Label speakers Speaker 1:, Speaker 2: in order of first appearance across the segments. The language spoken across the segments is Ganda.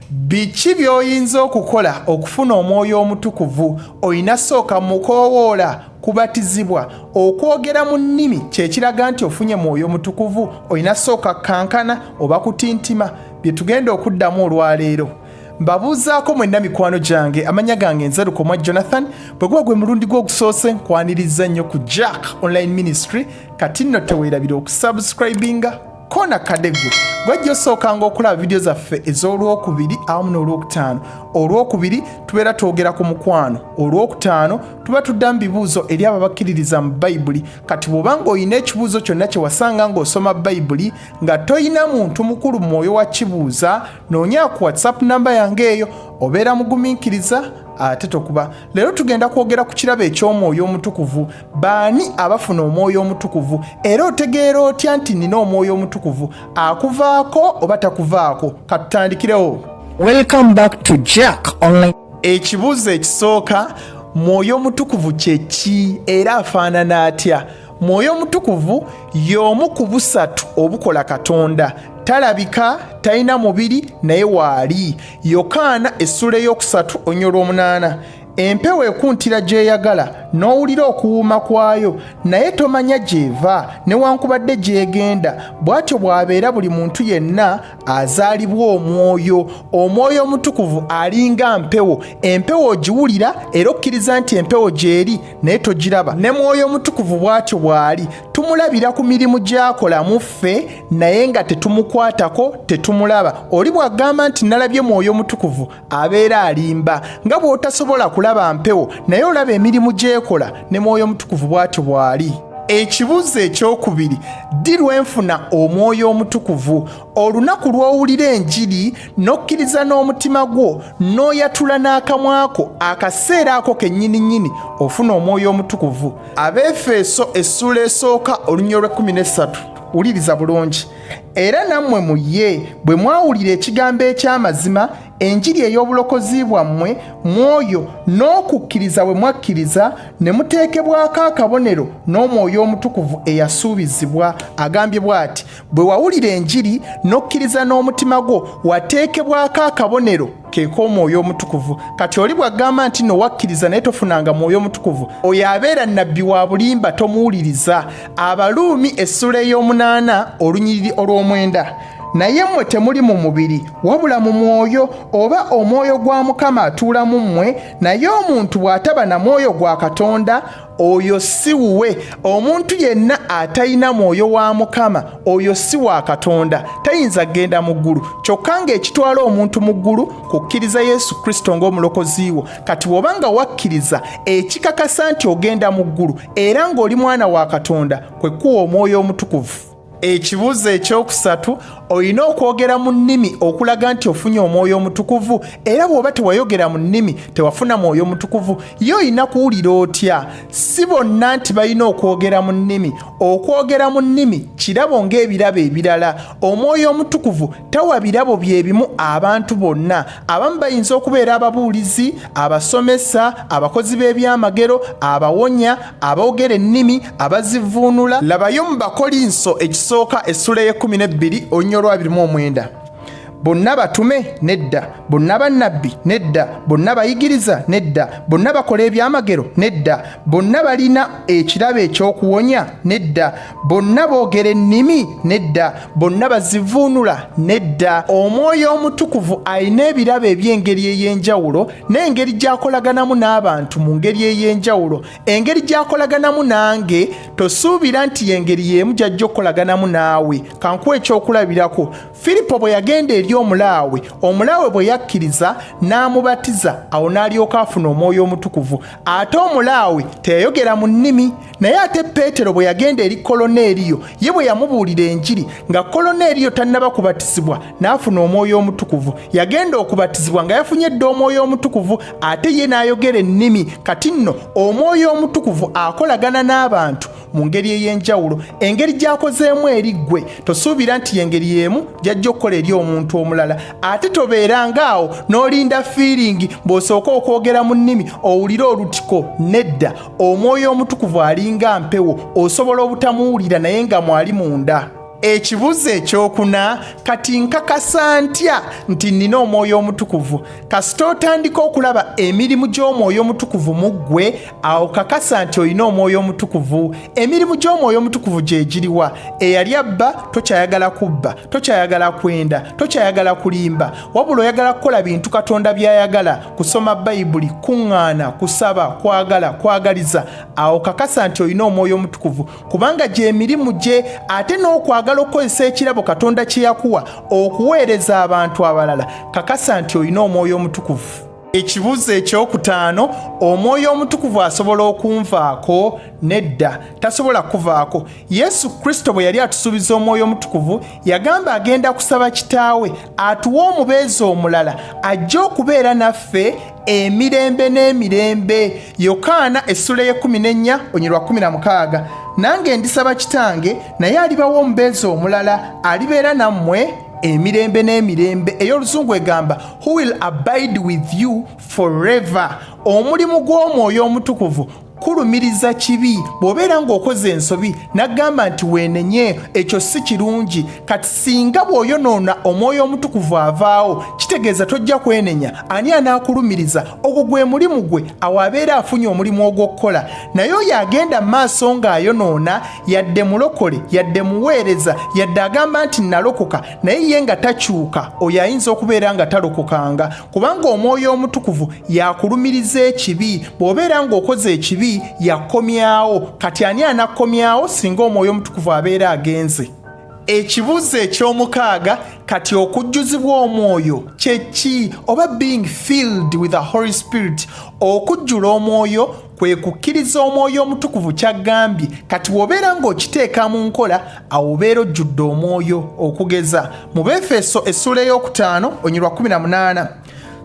Speaker 1: biki by'oyinza okukola okufuna omwoyo omutukuvu olina sooka mukoowoola kubatizibwa okwogera mu nnimi kyekiraga nti ofunye mwoyo omutukuvu olina sooka kankana oba kutintima bye tugenda okuddamu olwaleero mbabuuzaako mwenna mikwano gyange amanya gange nze lukomwa jonathan bwe guba gwe mulundi gwe ogusoose nkwaniriza nnyo ku jack online ministry kati nno teweerabira okusubscribinga koona kadde gwe gwajja osookanga okulaba vidiyo zaffe ez'olwokubiri awamu n'olwokutaano olwokubiri tubeera twogera ku mukwano olwokutaano tuba tuddamu bibuuzo eri abo abakkiririza mu bayibuli kati bw'oba ng'olina ekibuuzo kyonna kye wasanga ng'osoma bayibuli nga tolina muntu mukulu mwoyo wa kibuuza noonya ku whatsapp namba yange eyo obeera mugumiikiriza ate tokuba leero tugenda kwogera ku kirabo eky'omwoyo omutukuvu baani abafuna omwoyo omutukuvu era otegeera otya nti nina omwoyo omutukuvu akuvaako oba takuvaako katutandikirewo welcome
Speaker 2: back to jack online ekibuuzo
Speaker 1: ekisooka mwoyo omutukuvu kyeki era afaanana atya mwoyo omutukuvu y'omu ku busatu obukola katonda talabika talina mubiri naye waali yokaana essula ey'okusatu onyolwa omunaana empewo ekuntira gy'eyagala n'owulira okuwuuma kwayo naye tomanya gy'eva newankubadde gy'egenda bw'atyo bw'abeera buli muntu yenna azaalibwa omwoyo omwoyo omutukuvu alinga mpewo empewo ogiwulira era okkiriza nti empewo gy'eri naye togiraba ne mwoyo omutukuvu bw'atyo bw'ali tumulabira ku mirimu gy'akola mu ffe naye nga tetumukwatako tetumulaba oli bw'agamba nti nalabye mwoyo omutukuvu abeera alimba nga bw'otasobola kulaba mpewo naye olaba emirimu gyekola ne mwoyo omutukuvu bw'atyo bw'ali ekibuuzo ekyokubiri ddi lwenfuna omwoyo omutukuvu olunaku lw'owulira enjiri n'okkiriza n'omutima gwo n'oyatula n'akamwako akaseera ako kennyini nnyini ofuna omwoyo omutukuvu abeefeeso essuula esooka olunyolwa 13 wuliriza bulungi era nammwe mu ye bwe mwawulira ekigambo eky'amazima enjiri ey'obulokozi bwammwe mwoyo n'okukkiriza bwe mwakkiriza ne muteekebwako akabonero n'omwoyo omutukuvu eyasuubizibwa agambye bw'ati bwe wawulira enjiri n'okkiriza n'omutima gwo wateekebwako akabonero keeko omwoyo omutukuvu kati oli bwagamba nti no wakkiriza naye tofunanga mwoyo omutukuvu oyo abeera nabbi wa bulimba tomuwuliriza abaluumi essula ey'omunaana olunyiriri olw'omwenda naye mmwe temuli mu mubiri wabula mu mwoyo oba omwoyo gwa mukama atuula mu mmwe naye omuntu bw'ataba na mwoyo gwa katonda oyo si wuwe omuntu yenna atalina mwoyo wa mukama oyo si wa katonda tayinza kugenda mu ggulu kyokka ng'ekitwala omuntu mu ggulu kukkiriza yesu kristo ng'omulokozi wo kati bw'oba nga wakkiriza ekikakasa nti ogenda mu ggulu era ng'oli mwana wa katonda kwe kuwa omwoyo omutukuvu ekibuuzo ekyokusatu olina okwogera mu nnimi okulaga nti ofunye omwoyo omutukuvu era bw'oba tewayogera mu nnimi tewafuna mwoyo omutukuvu ye olina kuwulira otya si bonna nti balina okwogera mu nnimi okwogera mu nnimi kirabo ng'ebirabo ebirala omwoyo omutukuvu tawa birabo bye bimu abantu bonna abamu bayinza okubeera ababuulizi abasomesa abakozi b'ebyamagero abawonya aboogera ennimi abazivuunula labayo mu bakolinso ekisooka essula y'ekumi n'ebbiri olunya olwabiri mu omwenda bonna batume nedda bonna bannabbi nedda bonna bayigiriza nedda bonna bakola ebyamagero nedda bonna balina ekirabo ekyokuwonya nedda bonna boogera ennimi nedda bonna bazivuunula nedda omwoyo omutukuvu alina ebirabo eby'engeri ey'enjawulo n'engeri gy'akolaganamu n'abantu mu ngeri ey'enjawulo engeri gy'akolaganamu nange tosuubira nti y'engeri y'emu gy'ajja okukolaganamu naawe kankuwa ekyokulabirako firipo bwe yagenda eri omulaawe omulaawe bwe yakkiriza n'amubatiza awo n'alyoka afuna omwoyo omutukuvu ate omulaawe teyayogera mu nnimi naye ate peetero bwe yagenda eri koloneeriyo ye bwe yamubuulira enjiri nga koloneeriyo tannaba kubatizibwa n'afuna omwoyo omutukuvu yagenda okubatizibwa nga yafunye dda omwoyo omutukuvu ate ye n'ayogera ennimi kati nno omwoyo omutukuvu akolagana n'abantu mu ngeri ey'enjawulo engeri gy'akozeemu eri ggwe tosuubira nti y'engeri y'emu gy'ajja okukola eri omuntu omulala ate tobeeranga awo n'olinda fiiringi bw'osooka okwogera mu nnimi owulire olutiko nedda omwoyo omutukuvu alinga mpewo osobola obutamuwulira naye nga mwali munda ekibuzo ekyokuna kati nkakasa ntya nti nnina omwoyo omutukuvu kasita otandika okulaba emirimu gy'omwoyo omutukuvu mu ggwe awo kakasa nti olina omwoyo omutukuvu emirimu gy'omwoyo omutukuvu gye giriwa eyali abba tokyayagala kubba tokyayagala kwenda tokyayagala kulimba wabula oyagala kukola bintu katonda by'ayagala kusoma bayibuli kuŋŋaana kusaba kwagala kwagaliza awo kakasa nti olina omwoyo omutukuvu kubanga gy'emirimu gye ate n'okwagala okukozesa ekirabo katonda kye yakuwa okuweereza abantu abalala kakasa nti olina omwoyo omutukuvu ekibuuzo ekyokutaano omwoyo omutukuvu asobola okunvaako nedda tasobola kuvaako yesu kristo bwe yali atusuubiza omwoyo omutukuvu yagamba agenda kusaba kitaawe atuwa omubeezi omulala ajja okubeera naffe emirembe n'emirembe yokaana essula y'ekumi n'ennya onyirwa kumi na mukaaga nange ndisaba kitange naye alibawo omubeezi omulala alibeera nammwe emirembe n'emirembe ey'oluzungu egamba who will abide with you forever omulimu gw'omwoyo omutukuvu kulumiriza kibi bw'obeera ng'okoze ensobi n'agamba nti weenenye ekyo si kirungi kati singa bw'oyonoona omwoyo omutukuvu avaawo kitegeeza tojja kwenenya ani anaakulumiriza ogwo gwe mulimu gwe awo abeera afunye omulimu ogw'okukola naye oyo agenda maaso ng'ayonoona yadde mulokole yadde muweereza yadde agamba nti nalokoka naye ye nga takyuka oyo ayinza okubeera nga talokokanga kubanga omwoyo omutukuvu yakulumiriza ekibi bw'obeera ng'okoze ekibi yakomyawo kati ani anakomyawo singa omwoyo omutukuvu abeera agenze ekibuuzo eky'omukaaga kati okujjuzibwa omwoyo kye ki oba being filled with the holy spirit okujjula omwoyo kwe kukkiriza omwoyo omutukuvu ky'aggambye kati wobeera ng'okiteeka mu nkola awo obeera ojjudde omwoyo okugeza mu befeso essuula ey'okutaano onyirwa 18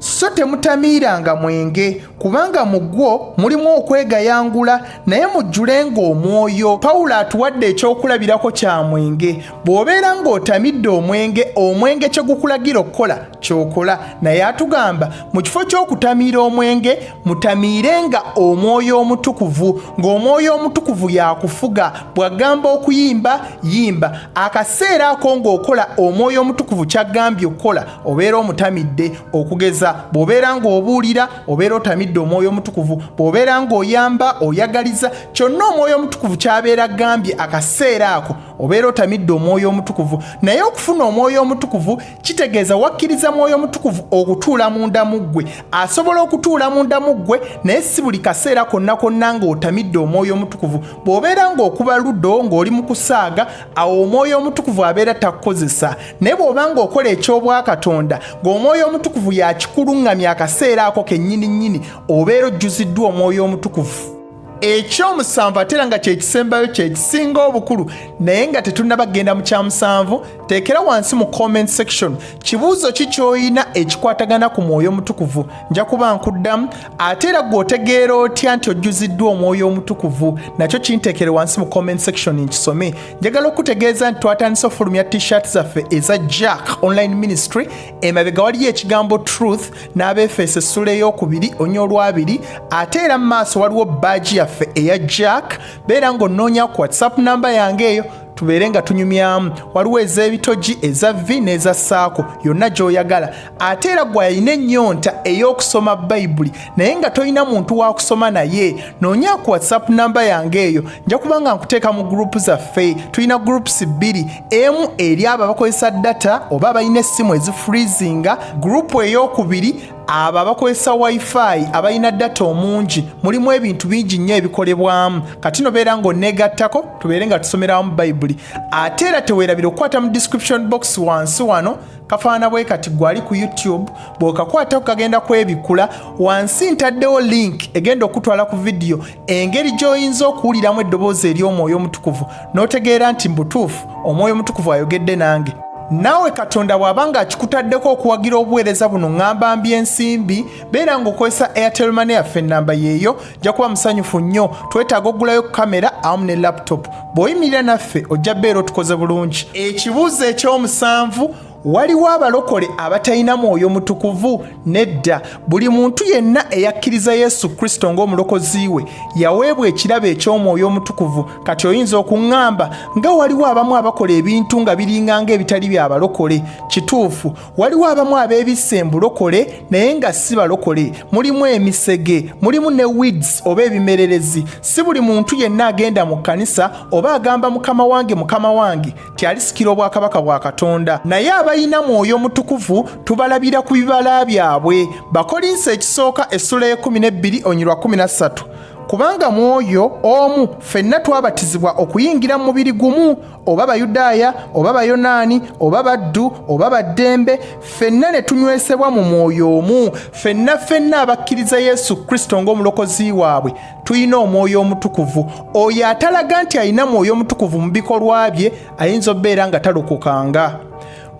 Speaker 1: so temutamiiranga mwenge kubanga mu gwo mulimu okwegayangula naye mujjulenga omwoyo pawulo atuwadde ekyokulabirako kya mwenge bw'obeera ng'otamidde omwenge omwenge kye gukulagira okukola kyokola naye atugamba mu kifo ky'okutamiira omwenge mutamiire nga omwoyo omutukuvu ng'omwoyo omutukuvu yakufuga bwagamba okuyimba yimba akaseera ako ng'okola omwoyo omutukuvu kyagambye okukola obeera omutamidde okugeza bw'obeera ng'obuulira obeera otamidde omwoyo omutukuvu bw'obeera ng'oyamba oyagaliza kyonna omwoyo omutukuvu kyabeera gambye akaseera ako obeera otamidde omwoyo omutukuvu naye okufuna omwoyo omutukuvu kitegeeza wakkiriza mwoyo mutukuvu okutuula munda mu ggwe asobola okutuula munda mu ggwe naye si buli kaseera konna konna ng'otamidde omwoyo omutukuvu bw'obeera ng'okuba ludo ng'oli mu kusaaga awo omwoyo omutukuvu abeera takukozesa naye bw'oba ng'okola eky'obwakatonda ng'omwoyo omutukuvu yakikuluŋŋamya akaseera ako kennyini nnyini obeera ojjuziddwa omwoyo omutukuvu ekyomusanvu ate era nga kyekisembayo kyekisinga obukulu naye nga tetunaba kugenda mu kyamusanvu teekera wansi mu comment section kibuuzo ki kyoyina ekikwatagana ku mwoyo omutukuvu nja kuba nkuddamu ate era gwe otegeera otya nti ojjuziddwa omwoyo omutukuvu nakyo kinteekere wansi mu comment section nkisome njagala okutegeeza nti twatandise ofulumya t-shirt zaffe eza jack online ministry emabega waliyo ekigambo truth n'abeefeeso essula ey'okubiri onya olwabiri ate era mu maaso waliwo baaji yaffe eya jack beera ng'onnoonya ku whatsapp namba yange eyo tubeere nga tunyumyamu waliwo ez'ebitogi eza vi n'eza saako yonna gy'oyagala ate era gwe alina ennyonta ey'okusoma bayibuli naye nga tolina muntu wa kusoma naye noonya ku whatsapp namba yange eyo nja kuba nga nkuteeka mu gurupu zaffe tulina gurupusi bbiri emu eri abo abakozesa data oba abalina essimu ezifreezinga gurupu ey'okubiri abo abakozesa wifi abalina data omungi mulimu ebintu bingi nnyo ebikolebwamu kati nobeera ng'oneegattako tubeere nga tusomerawamu bayibuli ate era teweerabira okukwata mu description box wansi wano kafaana bwe kati gwali ku youtube bw'okakwatako kagenda kwebikkula wansi ntaddewo link egenda okutwala ku vidiyo engeri gy'oyinza okuwuliramu eddoboozi ery'omwoyo omutukuvu n'otegeera nti mu butuufu omwoyo omutukuvu ayogedde nange naawe katonda bw'aba ng'akikutaddeko okuwagira obuweereza buno ŋŋamba mby ensimbi beera ng'okozesa airtel mane yaffe ennamba yeeyo jja kuba musanyufu nnyo twetaaga okugulayo kamera awamu ne laputopu bw'oyimirira naffe ojja beera otukoze bulungi ekibuuzo eky'omusanvu waliwo abalokole abatalina mwoyo mutukuvu nedda buli muntu yenna eyakkiriza yesu kristo ng'omulokozi we yaweebwa ekirabo eky'omwoyo omutukuvu kati oyinza okuŋŋamba nga waliwo abamu abakola ebintu nga biringa ng'ebitali bya balokole kituufu waliwo abamu abeebisse embulokole naye nga si balokole mulimu emisege mulimu ne wids oba ebimererezi si buli muntu yenna agenda mu kkanisa oba agamba mukama wange mukama wange nti alisikira obwakabaka bwa katonda naye abalina mwoyo mutukuvu tubalabira ku bibala byabwe bakolinsi ekisooka essula y'ekumi n'ebbiri onyirwa kumi na ssatu kubanga mu oyo omu ffenna twabatizibwa okuyingira mu mubiri gumu oba bayudaaya oba bayonaani oba baddu oba baddembe ffenna ne tunywesebwa mu mwoyo omu ffenna ffenna abakkiriza yesu kristo ng'omulokozi waabwe tulina omwoyo omutukuvu oyo atalaga nti alina mwoyo omutukuvu mu bikolwa bye ayinza obeera nga talukukanga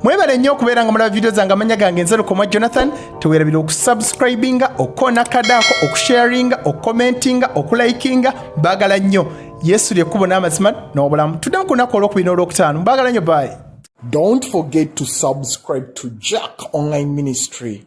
Speaker 1: mwebale nnyo okubeera nga mulaba vidiyo zange amanya gange nze lukoma jonathan tewerabira okusubscribinga okukona kadaako okusharinga okukomentinga okulikinga bagala nnyo yesu lyekkubo n'amazima n'obulamu tuddemu ku lunaku olwokubina olwokutaano bagala nnyo bayi Don't
Speaker 2: forget to subscribe to Jack Online
Speaker 1: Ministry.